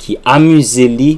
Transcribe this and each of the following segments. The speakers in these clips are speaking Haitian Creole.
ki amize li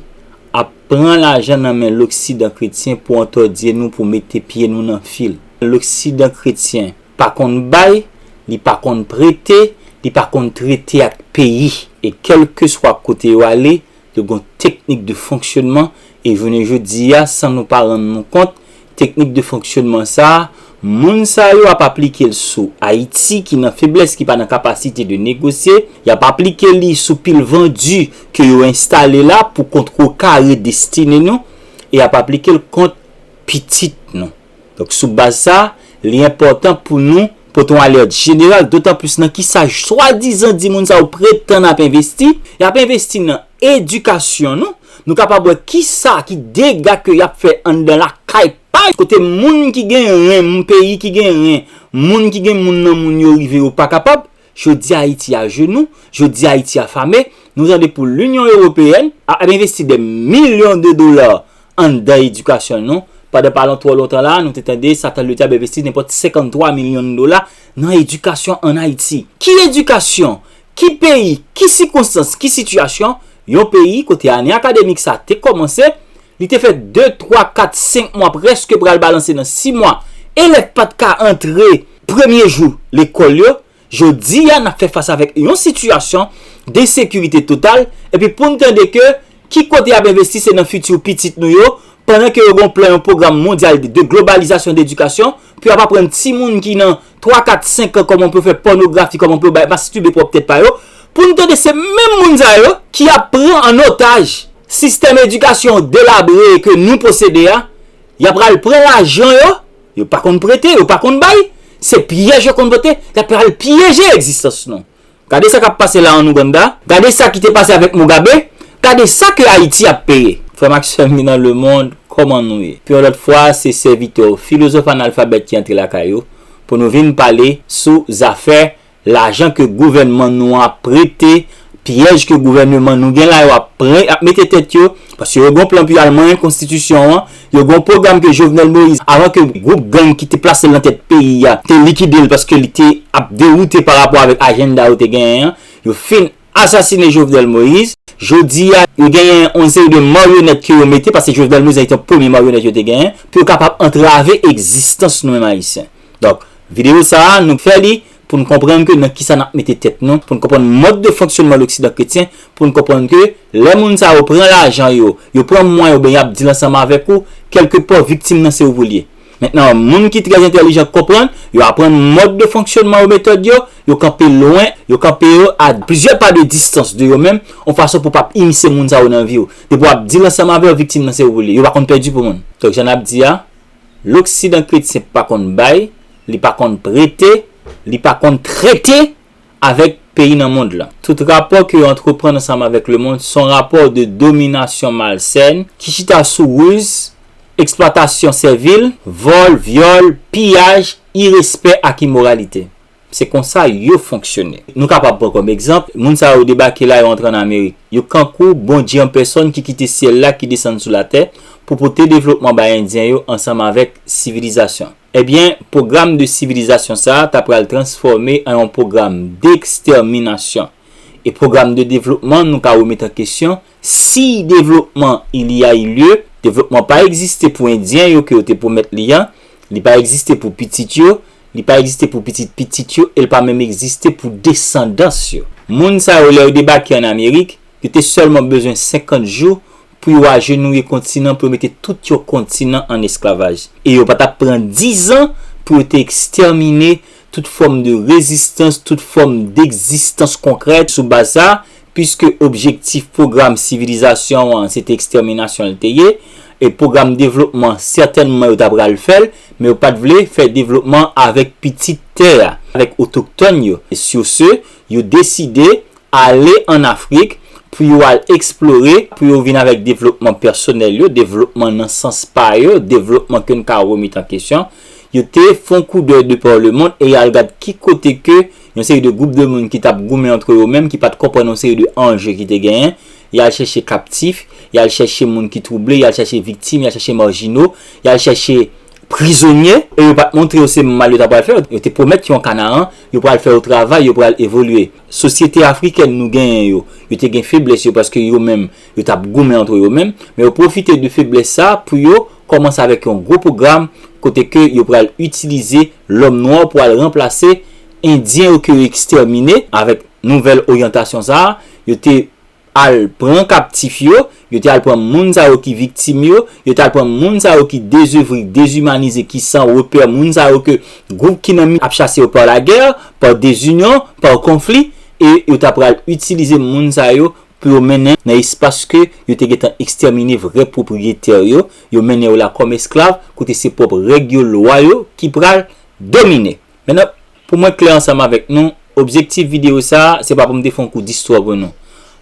ap pran lajan nan men loksidan kretyen pou antòdye nou pou mete pye nou nan fil. Loksidan kretyen pa konn bay, li pa konn prete, li pa konn trete ak peyi. E kèlkeswa kote yo ale, yo gen yon teknik de fonksyonman e jounen jodi a san nou pa rann nou kont, Teknik de fonksyonman sa, moun sa yo ap aplike l sou Ayiti ki nan feblès ki pa nan kapasite de negosye, y ap aplike li sou pil vandu ke yo enstale la pou kontrekare destine nou e y ap aplike l kont pitit nou. Donk sou baz sa, li enpòtan pou nou. Pote yon alèt jeneral, dotanplis nan kisa swadizan di moun sa yo pretann ap envesti, y ap envesti nan edikasyon nou, nou kapab wè kisa ki dega ke y ap fè anndan lakay pa yo, kote moun ki gen ren, moun peyi ki gen ren, moun ki gen moun nan moun yo rive yo pa kapab, jodi Ayiti ajenou, jodi Ayiti afame, nou tande pou linyon ewopeyèn ap envesti dè milyon de dola, anndan edikasyon nou. Pandan pa lon twò lontan la a, nou te tande sa Tanleu te ap envesti nenpòt 53 milyon dola nan edikasyon ann Ayiti. Ki edikasyon? Ki peyi? Ki sikonstans? Ki sitiyasyon? Yon peyi kote ane akademik sa a te kòmanse, li te fè de, twa, kat, senk mwa prèske pral balanse nan si mwa, elèv pa t ka antre premye jou lekòl yo, Jodi a, n ap fè fas avèk yon sitiyasyon densekirite total, epi pou n tande ke ki kote y ap envesti se nan fiti pitit nou yo, pandan ke yo gen yon plan, yon pwogram mondyal de globalizasyon de edikasyon, pou y ap aprann timoun ki nan twa, kat, senk an kòman pou yo fè pònografi, kòman pou yo bay mastibye pwòp tèt pa yo, pou n tande se menm moun sa yo ki ap pran an otaj sistèm edikasyon delabre ke nou posede a, y ap pral pran lajan yo Yo pa konn prete, yo pa konn bay, se pyèj yo konn pote, y ap pral pyeje egzistans nou. Gade sa k ap pase la an Ouganda, gade sa ki te pase avèk Mugabe, gade sa ke Ayiti ap peye. Frè m ak sè m ki nan lemond, kòman nou ye? Pou yon lòt fwa, se sèvitè w, filozòf analfabèt ki antre lakay ou, pou nou vin pale sou zafè Lajan ke gouvènman nou an ap prete, pyèj ke gouvèneman nou gen la yo ap pran, ap mete tèt yo, paske yo gen yon plan pou yo al manyen konstitisyon an, yo gen yon pwogram ke Jovenel Moïse, avan ke gwoup gang ki te plase l nan tèt peyi a, te likide l paske li te ap dewoute pa rapò avèk ajenda yo te genyen an, yo fin. asasine Jovenel Moïse, jodi a yo genyen yon seri de maryonèt ke yo mete, paske Jovenel Moïse nan te yon premye maryonèt yo te genyen, pou yo kapab antrave egzistans nou menm Ayisyen. Donk, videyo sa a, nou fè li pou nou konprann ke nan kisa n ap mete tèt nou, pou nou konprann mòd de fonksyonnman loksidan kretyen, pou nou konprann ke lè moun sa yo pran lajan yo, yo pran mwen yo, ben y ap di l ansanm avèk ou, kèlke pò viktim nan se ou pou l ye. Mentnan, moun ki trè entelijan k konprann, yo aprann mòd de fonksyònman yo metòd yo, yo kanpe lwen, yo kanpe yo a plizyè pa de distans de yo menm, on fason pou pap inisye moun sa yo nan vi w. Depi wap di l ansanm avè w viktim nan se ou li, yo pa konn pèdi pou moun. Donk jan nap di a, loksidan kretyen pa konn bay, li pa konn prete, li pa konn trete! avèk peyi nan mond lan. Tout rapò ke yo antreprann ansanm avèk lemond son rapò de dominasyon malsèn ki chita sou ruz, eksplwatasyon sèvil, vòl, vyòl, piyaj, irespè ak imoralite. Se konsa yo fonksyone. Nou kapab pran kòm egzanp, moun sa yo debake la, yo antre ann Amerik. Yo kankou Bondye an pèsòn ki kite syèl la ki desann sou latè pou pote devlopman bay Endyen yo ansanm avèk sivilizasyon. Ebyen, pwogram de sivilizasyon sa a ta pral transfòme an yon pwogram dekstèminasyon. E pwogram de devlopman nou ka remèt an kesyon, si devlopman il y a eu lieu, devlopman pa egziste pou endyen yo ke yo te pwomèt li an, li pa egziste pou pitit yo, li pa egziste pou pitit pitit yo e l pa menm egziste pou desandans yo. Moun sa yo lè yo debake an Amerik, yo te sèlman bezwen 50 jou pou yo ajenouye kontinan pou yo mete tout yon kontinan an esklavaj, e yo pa t ap pran dizan pou yo te ekstèmine tout fòm de rezistans, tout fòm degzistans konkrè sou baz sa, piske objektif pwogram sivilizasyon an se te ekstèminasyon l te ye, e pwogram devlopman sètènman yo ta pral fè l, men yo pa t vle fè devlopman avèk pitit tè a, avèk otoktòn yo. Sur ce, yo deside ale an Afrik pou yo al eksplore, pou yo vin avèk devlopman pèsonèl yo, devlopman nan sans pa yo, devlopman ke n ka remèt an kesyon, yo te fè yon koudèy de par le mond e y al gad ki kote ke yon seri de gwoup de moun ki t ap goumen antre yo menm, ki pa t konprann yon seri de anje ki te genyen, y al chèche kaptif, y al chèche moun ki twouble, y al chèche viktim, y al chèche marjino, y al chèche prizonye. E yo pa t montre yo se mal yo ta pral fè yo, yo te pwomèt yo an Kanaran, yo pral fè yo travay, yo pral evolye. Sosyete afrikèn nou genyen yo, yo te gen feblès yo paske yo menm, yo t ap goumen antre yo menm, men yo pwofite de feblès sa a pou yo kòmanse avèk yon gwo pwogram kote ke yo pral itilize lòm nwa pou al ranplase endyen yo ke yo ekstèmine, avèk nouvèl oryantasyon sa a, yo te. al pran kaptif yo, yo te al pran moun sa yo ki viktim yo, yo te al pran moun sa yo ki dezevri, dezimanize, ki san repè, moun sa yo ke gwoup ki nan mi ap chase yo par la guerre, par desunyon, par konfli, e yo ta pral itilize moun sa yo pou yo mennen nan espas ke yo te gentan ekstèmine vrè pwopriyetè yo, yo mennen yo la kòm esklav, kote se pwòp règ yo, lwa yo ki pral domine. Menan, pou mwen klè ansanm avèk nou, objektif videyo sa a, se pa pou m te fè yon kou distwa pou nou.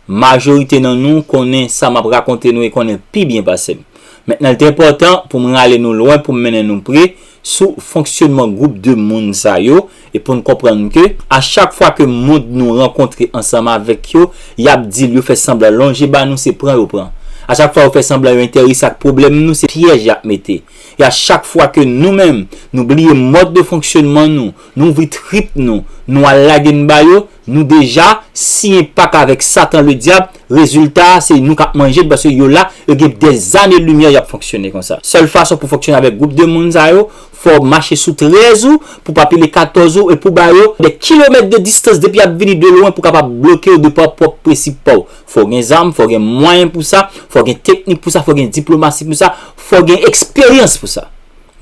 Majorite nan nou konnen sa m ap rakonte nou e konnen l pi byen pase m. Mentnan l te enpòtan pou m rale nou lwen pou m mennen nou pre sou fonksyonman gwoup de moun sa yo e pou n konprann ke a chak fwa ke moun nou rankontre ansanm avèk yo, y ap di l yo fè sanblan lonje ba nou se pran yo pran. A chak fwa yo fè sanblan yo enterese ak pwoblèm nou se pyèj y ap mete. E a chak fwa ke nou menm, nou bliye mòd de fonksyonman nou, nou ouvri trip nou, nou al lage n ba yo, nou deja siyen pak avèk Satan le Dyab, rezilta a se nou k ap manje l paske yo la, yo gen dèzane limyè y ap fonksyone konsa. Sèl fason pou fonksyone avèk gwoup de moun sa yo, fò w mache sou 13 ou, pou w pa pile 14 ou, e pou w ba yo dè kilomèt de distans depi y ap vini de lwen pou w kapab bloke yo de pa w pwòp presip pa w. Fò gen zam, fò gen mwayen pou sa, fò gen teknik pou sa, fò gen diplomasi pou sa, fò gen eksperyans pou sa.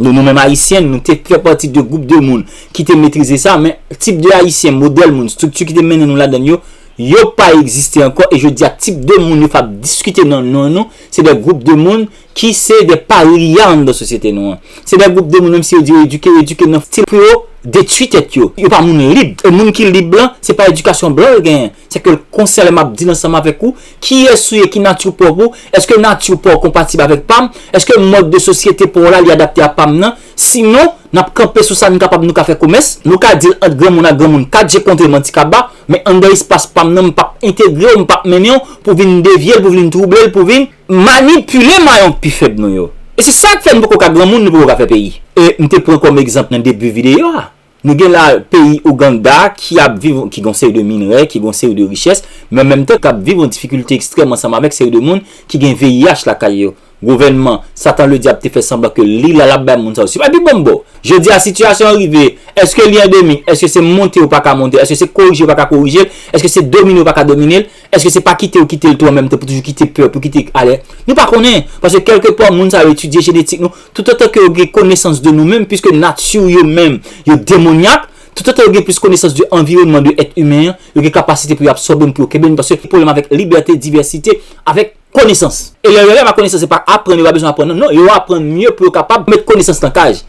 Nou nou menm Ayisyen, nou te fè pati de gwoup de moun ki te metrize sa, men tip de Ayisyen, modèl moun, estrikti ki te mennen nou ladann yo, yo pa egziste ankò, e jodi a tip de moun yo fap diskite nan non nou, se de gwoup de moun ki se de parya anndan sosyete nou an. Se de gwoup de moun, menm si yo di yo edike, yo edike nan stil pou yo detwi tèt yo. Yo pa moun lib, e moun ki lib lan, se pa edikasyon blan yo genyen. Se ke konsè lè map di l ansanm avèk ou, kiyès ou ye, ki nati w pwòp ou, èske nati w pa w konpatib avèk pa m, èske mòd de sosyete pa w la li adapte a pa m nan, sinon nap kanpe sou sa n kapab nou ka fè komès. Nou ka di l ant granmoun ak granmoun, 4 je kontre m an ti kaba, men anndan espas pa m nan m pap entegre w, m pap mennen w pou vin devye l, pou vin twouble l, pou vin. Manipile mayon pi fèb nou yo. E se sa k fè n poko ka granmoun, nou poko ka fè peyi. E m te pran kòm egzanp nan debi videyo a, Nou gen la peyi Ouganda ki ap viv, ki gen yon seri de minrè, ki gen yon seri de richès, men an menm tan kap viv yon difikilte ekstrèm ansanm avèk seri de moun ki gen VIH lakay yo. Gouvènman, Satan le Dyab te fè sanblan ke li la lap bay moun sa yo. Se pa pi bon bo! Jodi a sitiyasyon an rive, èske li andemik? Èske se monte yo paka monte? Èske se korije yo paka korijel? Èske se domine yo paka dominel? Eske se pa kite yo kite l tou an menm tan pou toujou kite pèp yo kite alè? Nou pa konnen, paske kèlke pwa moun sa yo etidye jenetik nou, toutotan ke yo gen konesans de nou menm, piske nati yo menm yo demonyak, toutotan yo gen plis konesans de anviwònman, de èt imen an, yo gen kapasite pou yo absòbe n, pou yo kenbe n, paske pwoblèm avèk libète, divèsite, avèk. Konesans. Elèv yo gen pa konesans se pa aprann yo pa bezwen aprann non, yo aprann mye pou yo kapab met konesans nan kaj.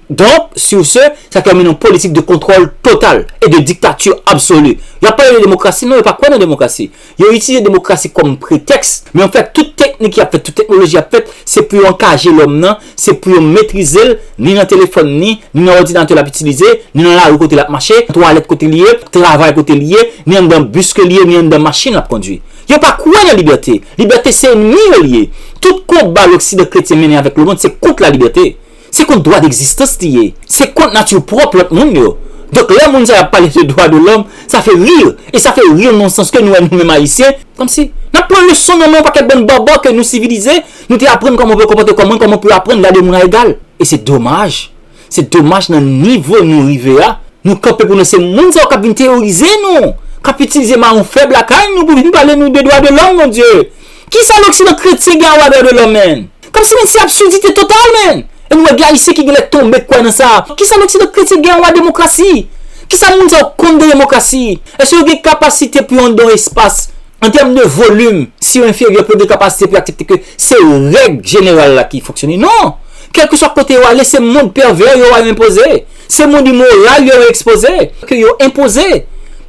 Donk, sur ce, sa termine yon politik de kontwòl total e de diktatur absolu. Y ap pale de demokrasi, non yo pa kwè nan demokrasi. Yo itilize demokrasi kòm pretèks, men an fèt tout teknik y ap fèt, tout teknoloji y ap fèt, se pou yo ankaje lòm nan, se pou yo metrize l, ni nan telefòn ni, ni nan òdinatè l ap itilize, ni nan lari kote l ap mache, twalèt kote li ye, travay kote li ye, ni anndan bis ke li ye, ni anndan machin l ap kondui. Yo pa kwè nan libète. Libète se enmi yo li ye. Tout konba loksidan kretyen mennen avèk lemond se kont lalibète. Se kont dwa degzistans li ye. Se kont nati pwòp lòt moun yo. Donk lè moun sa yo ap pale de dwa de lòm, sa fè rir. E sa fè rir nonsans ke nou wè nou menm ayisyen, kòmsi nap pran leson nan men yon pakèt bann bòbò ke nou sivilize, nou te aprann kòman pou yo konpòte kò moun, kòman pou yo aprann gade moun a egal. E se domaj. Se domaj nan nivo nou rive a, nou kanpe pou nou se moun sa yo kap vin teyorize nou, kap itilize maron fèb lakay nou pou vin pale nou de dwa de lòm mon Dye. Kisa loksidan kretyen gen a wè a dwa de lòm menn? Kòmsi menn se absurdite total menn. E nou wè gen ayisyen ki genlè tonbe kwè nan sa. Kisa loksidan kretyen gen a wè a demokrasi? Kisa moun sa yo konn de demokrasi? Eske yo gen kapasite pou yo andan yon espas an tèm de volim si yo enferyè pou yo gen kapasite pou yo aksepte ke se règ jeneral la ki fonksyone? Non! Kèlkeswa kote yo ale, se mond pèvè yo a enpoze, se mond imoral yo a ekspoze, ke yo enpoze.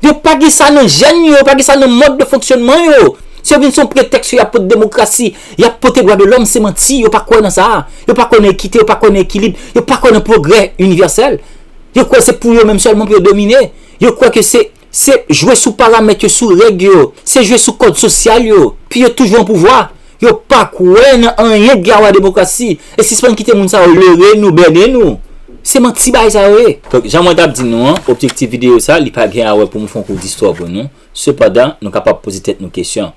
Yo pa gen sa nan jèn yo, yo pa gen sa nan mòd de fonksyònman yo. Se vin son pretèks yo ap pote demokrasi, y ap pote dwa de lòm, se manti, yo pa kwè nan sa. Yo pa kwè nan ekite, yo pa kwè nan ekilib, yo pa kwè nan pwogrè inivèsèl. Yo kwè se pou yo menm sèlman pou yo domine. Yo kwè ke se. Se jwe sou paramèt yo, sou règ yo, se jwe sou kòd sosyal yo, pi yo toujou an pouvwa. Yo pa kwè nan anyen k gen awa demokrasi. E sispann kite moun sa yo lere nou, bène nou. Se manti bagay sa yo ye. Donk, jan mwen t ap di nou an, objektif videyo sa, li pa gen a wè pou m fè yon kou distwa pou nou. Sepandan, nou kapab poze tèt nou kesyon.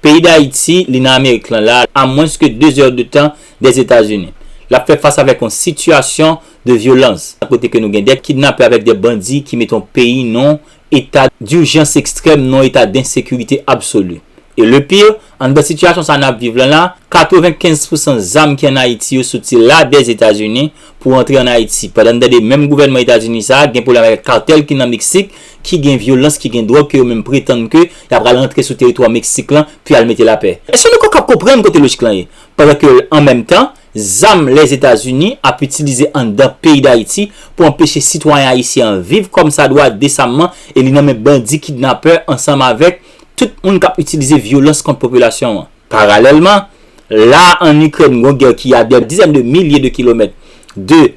Peyi Dayiti, li nan Amerik lan la, a mwens ke 2 zè de tan dèzetazini. L ap fè fas avèk yon sitiyasyon de vyolans, a kote ke nou gen de kidnapè avèk de bandi ki mete yon peyi non eta durjans ekstrèm, non eta densekirite absoli. E le pire, anndan sitiyasyon sa nap viv lan la, 95 pousan zam ki an Ayiti yo soti la dè Etazini pou rantre an Ayiti. Pandan nou tande menm gouvènman Etazini sa gen pwoblèm avèk kartèl ki nan Meksik, ki gen vyolans, ki gen dwòg ke yo menm pretann ke ya pral rantre sou teritwa Meksik lan pou yal mete lapè. Eske nou kapab konprann kote lojik lan ye? Pandan ke an menm tan, Zam Lèzetazini ap itilize anndan peyi Dayiti pou anpeche sitwayen ayisyen an viv kòmsadwa desamman e li nan men bandi kidnapè ansanm avèk tout moun kap itilize vyolans kont popilasyon an. Paralèlman, la a an Ikrèn gon gè ki a dè dizèn de milye de kilomèt de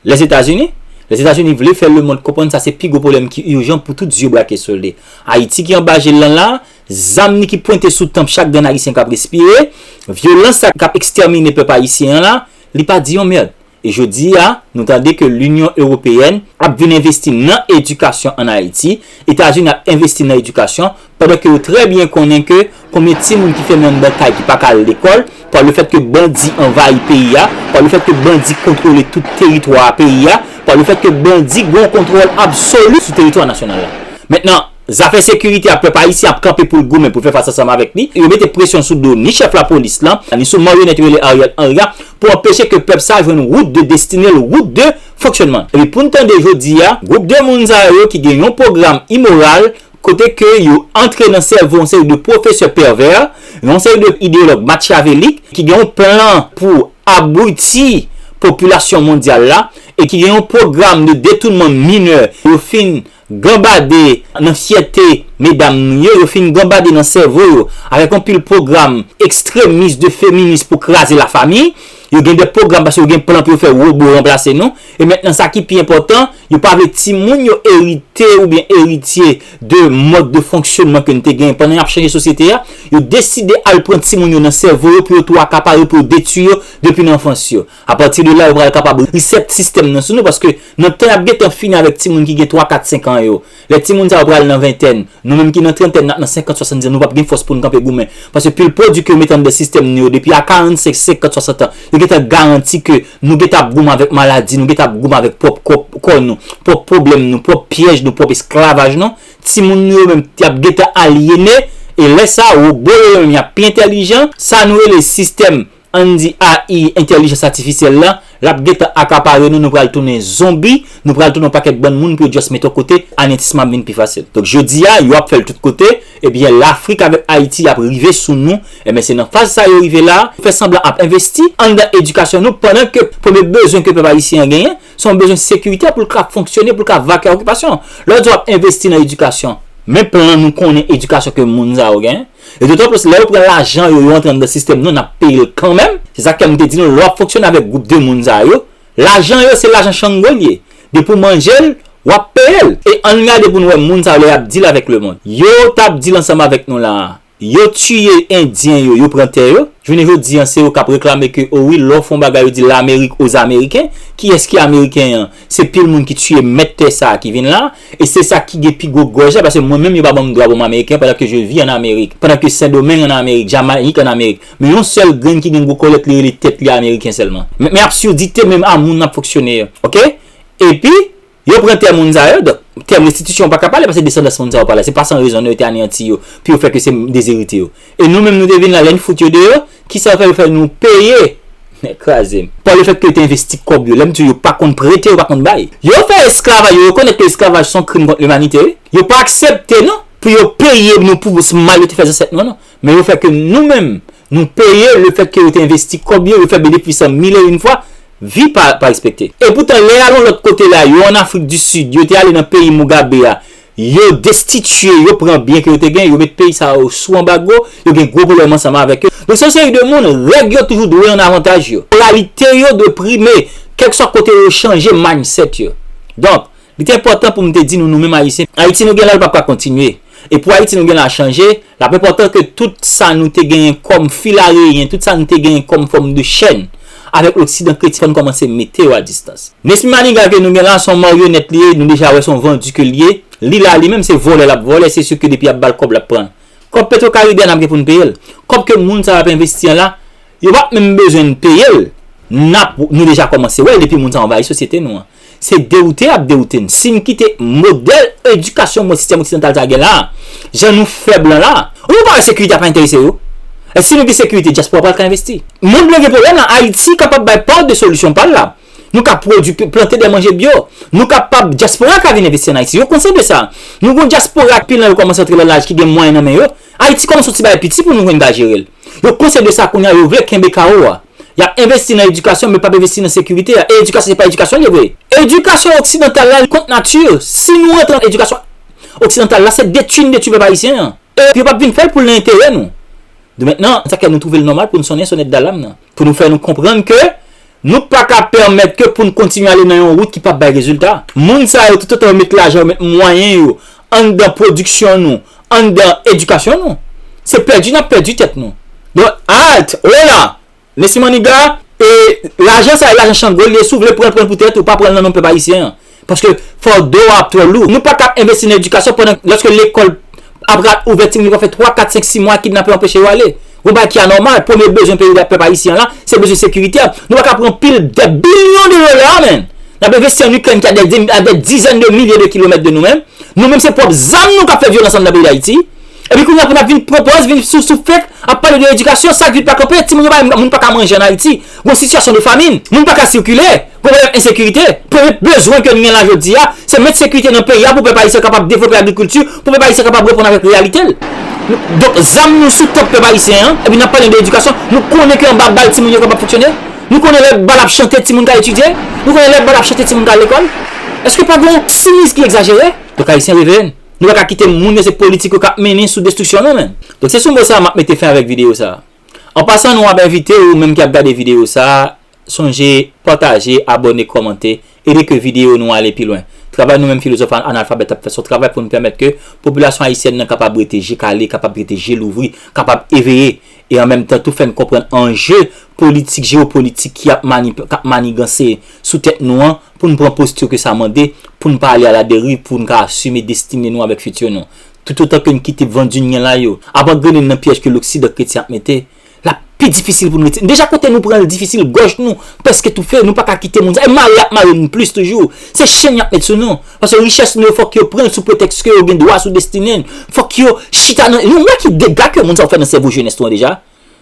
Lèzetazini? Lèzetazini vle fè lemond konprann sa se pi gwo pwoblèm ki urjan pou tout zye brake sou li. Ayiti ki anba je l lan la, zam li ki pwente sou tanp chak grenn ayisyen k ap respire, vyolans sa k ap ekstèmine pèp ayisyen an la, li pa di yon mèrd. E jodi a, nou tande ke Linyon Ewopeyèn ap vin envesti nan edikasyon an Ayiti, Etazini ap envesti nan edikasyon, Pandan ke yo trè byen konnen ke konbyen timoun ki fèmen anndan kay ki pa ka al lekòl, pa le fèt ke bandi anvayi peyi a, pa le fèt ke bandi kontwole tout teritwa peyi a, pa le fèt ke bandi gen yon kontwòl absoli sou teritwa nasyonal la. Mentnan, zafè sekirite a pèp ayisyen ap kanpe pou l goumen pou fè fas ansanm avèk li. Yo mete presyon sou do ni chèf lapolis la, ni sou maryonèt yo rele Ariel Henry a, pou anpeche ke pèp sa jwenn wout de destine l, wout de fonksyònman l. Epi pou n tande jodi a, gwoup de moun sa yo ki gen yon pwogram imoral, kote ke yo antre nan sèvo yon seri de pwofesè pèvè, yon seri de ideyològ matyavelik ki gen yon plan pou abwiti popilasyon mondyal la e ki gen yon pwogram de detounman minè, yo fin ganbade nan fyète medam nou yo, yo fin ganbade nan sèvo yo avèk yon pil pwogram ekstremis de feminis pou kraze lafamiy. Yo gen de pwogram paske yo gen plan pou yo fè wobo ranplase nou. E mentnan sa ki pi enpòtan, yo pa vle timoun yo erite oubyen eritye de mòd de fonksyonman ke n te genyen pandan y ap chanje sosyete a. Yo deside al pran timoun yo nan sèvo yo pou yo tou akapare yo, pou yo detui yo depi nan anfans yo. Apati de la yo pral kapab reset sistèm nan sou nou paske nan tan y ap gentan fini avèk timoun ki gen twa, kat, senkan yo. Lè timoun sa yo pral nan ventèn, nou menm ki nan trantèn ak nan senkant, swasandiz an, nou pap gen fòs pou n kanpe goumen. Paske pil pwodui ke yo mete anndan sistèm nou yo depi a karansenk, senkant, swasant an, yo gentan garanti ke nou gentan ap goumen avèk maladi nou, gentan ap goumen avèk pwòp kò nou, pwòp pwoblèm nou, pwòp pyèj nou, pwòp esklavaj nou. Timoun nou yo menm, y ap gentan alyene, e lè sa a, wobo yo yo menm y ap pi entèlijan. Sa nou rele sistèm Ann di AI, entèlijans atifisyèl la, l ap gentan akapare nou, nou pral tounen zonbi, nou pral tounen yon pakèt bann moun pou yo just mete w kote, anetisman ap vin pi fasil. Donk jodi a, yo ap fè l tout kote, ebyen Lafrik avèk Ayiti ap rive sou nou, enben se nan faz sa yo rive la, fè sanblan ap envesti anndan edikasyon nou pandan ke premye bezwen ke pèp ayisyen an genyen, se yon bezwen sekiritè pou l ka fonksyone, pou l ka vake okipasyon. Lè w di w ap envesti nan edikasyon, men plan nou konnen edikasyon ke moun sa yo genyen. E dotan plis lè yo pran lajan yo yo antre anndan sistèm nou nap peye l kanmenm, se sak fè m te di nou lè wap fonksyone avèk gwoup de moun sa yo, lajan yo se lajan chango l ye, depi w manje l wap peye l. E ann gade pou n wè moun sa yo lè yap deal avèk lemond. Yo tap deal ansanm avèk nou la a. Yo tiye endyen yo, yo pran tè yo, jounen jodi an se yo kap reklame ke o wi lè w fon bagay yo di lamerik o zameriken, kiyès ki ameriken an? Se pil moun ki tiye mèt tè sa ki vin la, e se sa ki gen pi gwo gòj la, paske mwen menm yo pa banm dwa pou m ameriken, pandan ke je vi an amerik, pandan ke sendomeng an amerik, jamayik an amerik, men yon sèl grenn ki gen gwo kòlèt li rele tèt li ameriken sèlman. Men absurdite menm a moun ap fonksyone yo. Ok? Epi, yo pran tè moun sa yo, donk, tèm restitisyon ou pa ka pale, paske desandans moun sa yo pa la, se pa san rezon non yo te aneyanti yo, pou yo fè ke se dezeritye yo. E nou menm nou te vin la lè n fout yo deyò kisa fè yo fè nou peye nèg kraze m. Par le fait ke yo te envesti kòb yo, lè m di w yo pa konn prete yo pa konn bay. Yo fè esklavaj yo rekonèt ke esklavaj son krim kont limanite wi, yo pa aksepte non pou yo peye nou pou mal yo te fè zansèt nou non, men yo fè ke nou menm nou peye le fèt ke yo te envesti kòb yo, yo fè benefis lan mil e yn fwa, vi pa respekte. Epoutan lè y al yon lòt kote la yo an Afrik di Sid yo te ale nan peyi Mugabe a Yo destitye, yo pran byen ke yo te gen, yo met peyi sa yo sou anbago, yo gen gwo pwoblèm ansanm avèk yo. Donk se yon seri de moun, règ yo toujou dwe an avantaj yo. Moralite yo dwe prime, kèlkeswa kote yo yo chanje mindset yo. Donk, li te enpòtan pou m te di nou nou menm Ayisyen, Ayiti nou gen la l pap ka kontinye. E pou Ayiti nou gen la a chanje, L ap enpòtan ke tout sa nou te genyen kòm fil areyen, tout sa nou te genyen kòm fòm de chèn, avèk loksidan kreti fò n kòmanse mete yo a distans. Nesmy Maniga ke nou gen la, s on maryonèt li ye, nou deja wè s on vandu ke l ye. Li la, li menm se vòlè l ap vòlè, se siu ke depi y ap ba l kòb l ap pran l. Kòb Petro Karibe a n ap gen pou n peye l. Kòb ke moun sa yo ap envesti an la, yo p ap menm bezwen n peye l, n ap, nou deja kòmanse wè l depi moun sa yo anvayi sosyete nou an. Se dewoute yap dewoute n. Si n kite modèl edikasyon mwen sistèm oksidantal sa gen la a, jan nou fè blan la a, ou pa wè sekirite a pa enterese yo? E si nou gen sekirite, dyaspora pral ka envesti. Mond lan gen pwoblèm la, Ayiti kapab bay part de solution pa l la. Nou ka pwodui, plante de manje bio. Nou kapab, dyaspora ka vin envesti an Ayiti. Yo konsyan de sa. Nou gen yon dyaspora, pil nan yo kòmanse antre lan laj ki gen mwayen nan men yo. Ayiti kòmanse yon ti bagay piti pou nou jwenn bagay jere l. Yo konsye de sa kounya yo vle kenbe kawo a. Yap envesti nan edikasyon men pap envesti nan sekirite a e edikasyon se pa edikasyon liye vre. Edikasyon oksidantal la kont nati, si nou rantre nan edikasyon oksidantal la se detwi nou detwi pèp ayisyen an e yo pap vin fèl poul nan enterè nou. Doumèt nan sa k fè nou twouvel nòmal poun sonnen sonèt dalam nan. pou nou fè nou konprann ke nou pa ka pèmèt ke pou nou kontinye ale nan yon wout ki pap bay rezilta. Moun sa yo toutotan yo met lajan yo met mwayen yo anndan pwodiksyon nou, anndan edikasyon nou, se pèdi nap pèdi tèt nou. Don alt, hola, Nesmy Maniga, e lajan sa e lajan Chango li e si w vle pran l pran l pou tèt ou pa pran l nan non pèp ayisyen an. Paske fado a ap twò lou. Nou pa ka envesti nan edikasyon pandan lòske lekòl ap ra ouvè timoun yo pa fè 3, 4, 5, 6 mwa kidnapè anpeche yo ale. Yon bagay ki anòmal. Premye bezwen peyi la, pèp ayisyen an la, se bezwen sekirite a. Nou pa ka pran pil dè bilyon de dola menn. N ap envesti an Ikrèn ki a dè dizèn de milye de kilomèt de nou menm. Nou menm se pwòp zam nou k ap fè vyolans anndan peyi Dayiti. Epi kounye a pou n ap vin pran pòz, vin sou sou fèk ap pale de edikasyon, sak vil pa kanpe, timoun yo pa moun pa ka manje an Ayiti. Gon sitiyasyon de famin. Moun pa ka sikile. Pwoblèm ensekirite, premye bezwen ke nou gen la jodi a, se met sekirite nan peyi a pou pèp ayisyen kapab devlope agrikilti, pou pèp ayisyen kapab reponn avèk reyalite l. Donk zam nou sou tanp pèp ayisyen an, epi n ap pale de edikasyon, nou konnen ke anba bal timoun yo kapab fonksyone? Nou konnen lè bal ap chante timoun ka etidye? Nou konnen lè bal ap chante timoun ka al lekòl? Eske pa gen yon ti miz ki egzajere? Pèp ayisyen reveye n. Nou pa ka kite moun yo se politik yo k ap mennen sou destriksyon nou menm. Donk se sou mo sa a m ap mete fen avèk videyo sa a. An pasan nou ap envite ou menm ki ap gade videyo sa a, sonje pataje, abòne, kòmante, ede ke videyo nou ale pi lwen. Travay nou menm Filozòf Analfabèt ap fè son travay pou nou pèmèt ke popilasyon ayisyèn nan kapab rete je kale, kapab rete je louvri, kapab eveye e an menm tan tou fè n konprann anje politik, jewopolitik ki ap manip, k ap maniganse sou tèt nou an pou n pran posti ke sa mande pou n pa ale aladeriv, pou n ka asime destine nou avèk fiti nou. Toutotan ke n kite vandunyen la yo ap angrene n nan pyèj ke loksidan kretyen ap mete, l ap pi difisil pou n retire n. Deja kote nou pran l difisil, gòj nou prèske toufe, nou pa ka kite moun sa. E mare y ap mare n plis toujou. Se chenn y ap met sou nou. Paske richès nou yo fòk yo pran l sou pretèks ke yo gen dwa sou destine n. Fòk yo chita nan. Nou wè ki dega ke moun sa yo fè nan sèvo jenès nou an deja?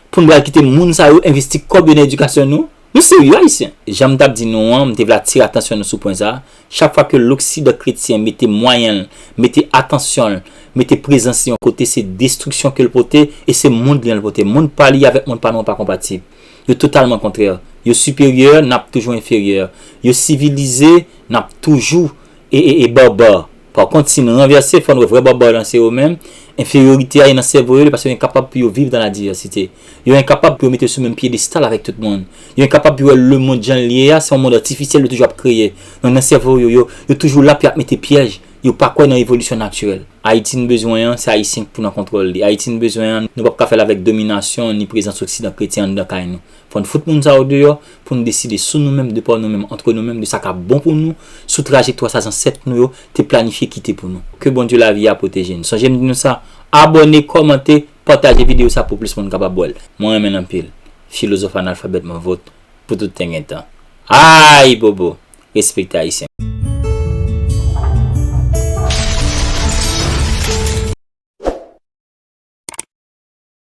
Pou n pral kite moun sa yo envesti kòb yo nan edikasyon nou? Nou serye Ayisyen? Jan m t ap di nou an, m te vle atire atansyon nou sou pwen sa a, chak fwa ke loksidan kretyen mete mwayen l, mete atansyon l, mete prezans li yon kote, se destriksyon ke l pote e se mond li an l pote. Mond pa li avèk mond pa nou an pa konpatib. Yo totalman kontrè. Yo siperyè, n ap toujou enferyè. Yo sivilize, n ap toujou. E e e Barbare Par kont si n ranvèse fò n wè vrè Barbare lan se yo menm, enferyorite a ye nan sèvo yo li pase yo enkapab pou yo viv dan la divèsite. Yo enkapab pou yo mete yo sou menm pyedestal avèk tout moun. Yo enkapab pou yo wè lemond jan l ye a se yon mond atifisyèl yo toujou ap kreye. Donk nan sèvo yo, yo yo toujou la pou y ap mete pyèj. Yo pa kwè nan evolisyon natirèl. Ayiti n bezwen an, se Ayisyen k pou nan kontwòl li. Ayiti n bezwen an, nou p ap ka fè l avèk dominasyon ni prezans oksidan kretyen anndan kay nou. Fò n fout moun sa yo deyò pou n deside sou nou menm, de pa nou menm, antre nou menm, de sa k ap bon pou nou, sou trajektwa sa zansèt nou yo te planifye kite pou nou. Ke Bondye lavi a pwoteje n. Sonje m di nou sa, abòne, kòmante, pataje videyo sa pou plis moun kapab wè l. Mwen renmen n anpil. Filozòf analfabèt mwen vòt pou tout ten gen tan. Ayibobo! Respekte Ayisyen.